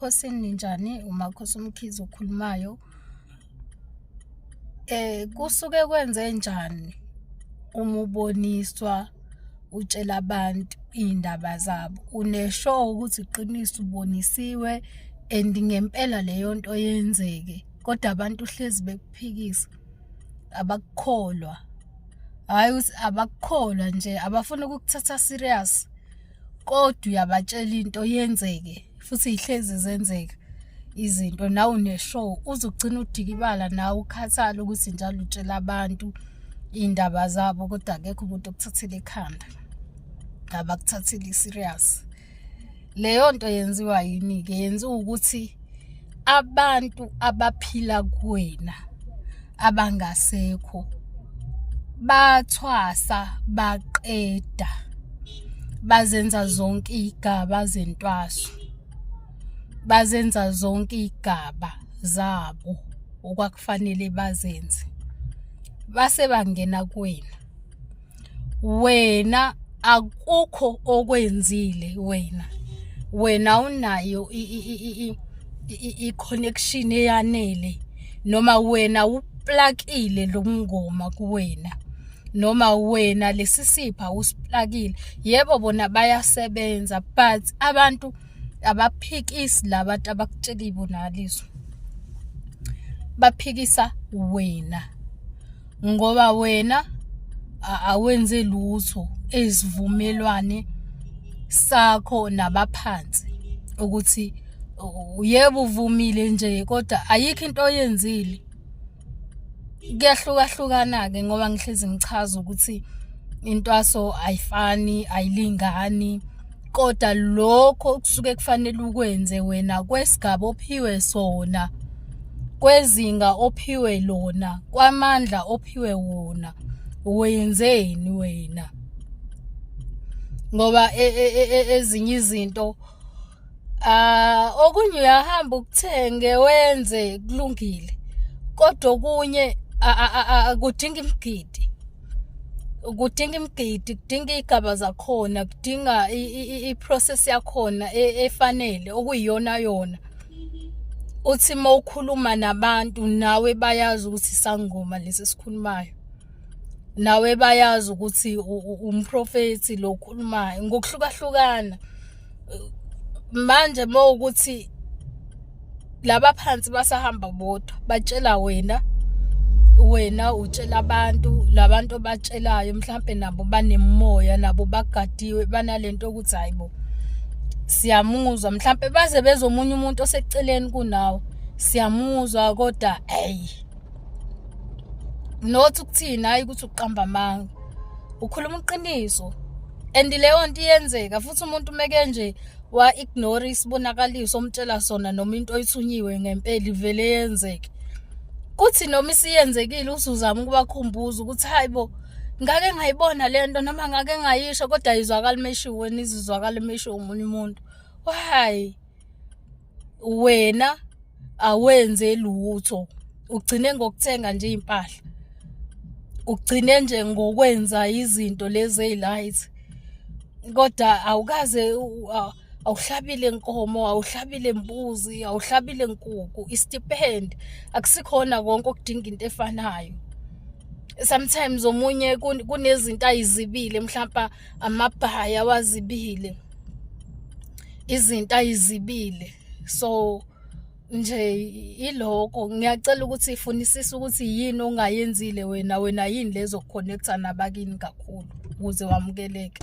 Ekhosini ninjani umakhosi umkhizi okhulumayo eh kusuke kwenze njani uma uboniswa utshela abantu iy'ndaba zabo unesho ukuthi iqiniso ubonisiwe and ngempela leyo nto yenzeke kodwa abantu hlezi bekuphikisa abakukholwa hhayi ukuthi abakukholwa nje abafuni ukukuthatha serious kodwa uyabatshela into yenzeke futhi ihlezi zenzeka izinto nawe uneshow uzogcina udikibala nawe ukhathala ukuthi njalo utshela abantu iy'ndaba zabo kodwa akekho umuntu okuthathela ekhanda ngabakuthathile i-serious leyo nto yenziwa yini-ke yenziwa ukuthi abantu abaphila kuwena abangasekho bathwasa baqeda bazenza zonke igaba zentwaso bazenza zonke igaba zabo okwakufanele bazenze base bangena kuwena wena akukho okwenzile wena wena unayo i-connection eyanele noma wena uplakile lo mngoma kuwena noma wena lesi sipha usiplakile yebo bona bayasebenza but abantu abaphikisi laba bantu abakutshela ibonakaliso baphikisa wena ngoba wena awenze lutho ezivumelwane sakho nabaphansi ukuthi yebo uvumile nje kodwa ayikho into oyenzile kuyahlukahlukana-ke ngoba ngihlezi ngichaza ukuthi intwaso ayifani ayilingani koda lokho kusuke kufanele ukwenze wena kwesigaba ophiwe sona kwezinga ophiwe lona kwamandla ophiwe wona wenzeni wena ngoba e, e, e, ezinye izinto ah okunye uyahamba ukuthenge wenze kulungile kodwa okunye kudinga imigidi kudinga imigidi kudinga iy'gaba zakhona kudinga i-process yakhona e, efanele okuyiyona yona uthi uma ukhuluma nabantu nawe bayazi ukuthi sangoma lesi sikhulumayo nawe bayazi ukuthi umprofethi lo okhulumayo ngokuhlukahlukana manje uma ukuthi laba phansi basahamba bodwa batshela wena wena utshela abantu labantu obatshelayo mhlambe nabo banemoya nabo bagadiwe banalento ukuthi hayibo siyamuzwa mhlambe baze bezomunye umuntu oseceleni kunawo siyamuzwa kodwa hey not ukuthina hayi ukuthi uqamba amanga ukhuluma iqiniso and leyo nto iyenzeka futhi umuntu umeke nje wa-ignore isibonakaliso omtshela sona noma into oyithunyiwe ngempela ivele yenzeke kuthi noma isiyenzekile usuzama ukubakhumbuza ukuthi hayi bo ngake ngayibona le nto noma ngake ngayisho kodwa ayizwakali meshiwe nizizwakali meshiwe omunye umuntu why wena awenze lutho ugcine ngokuthenga nje impahla ugcine nje ngokwenza izinto lezi ezilayithi kodwa awukaze awuhlabile inkomo awuhlabile imbuzi awuhlabile inkukhu istipend akusikhona konke okudinga into efanayo sometimes omunye kunezinto ayizibile mhlawumbe amabhaya wazibile izinto ayizibile so nje iloko ngiyacela ukuthi ifunisise ukuthi yini ongayenzile wena wena yini lezo connecta nabakini kakhulu ukuze wamukeleke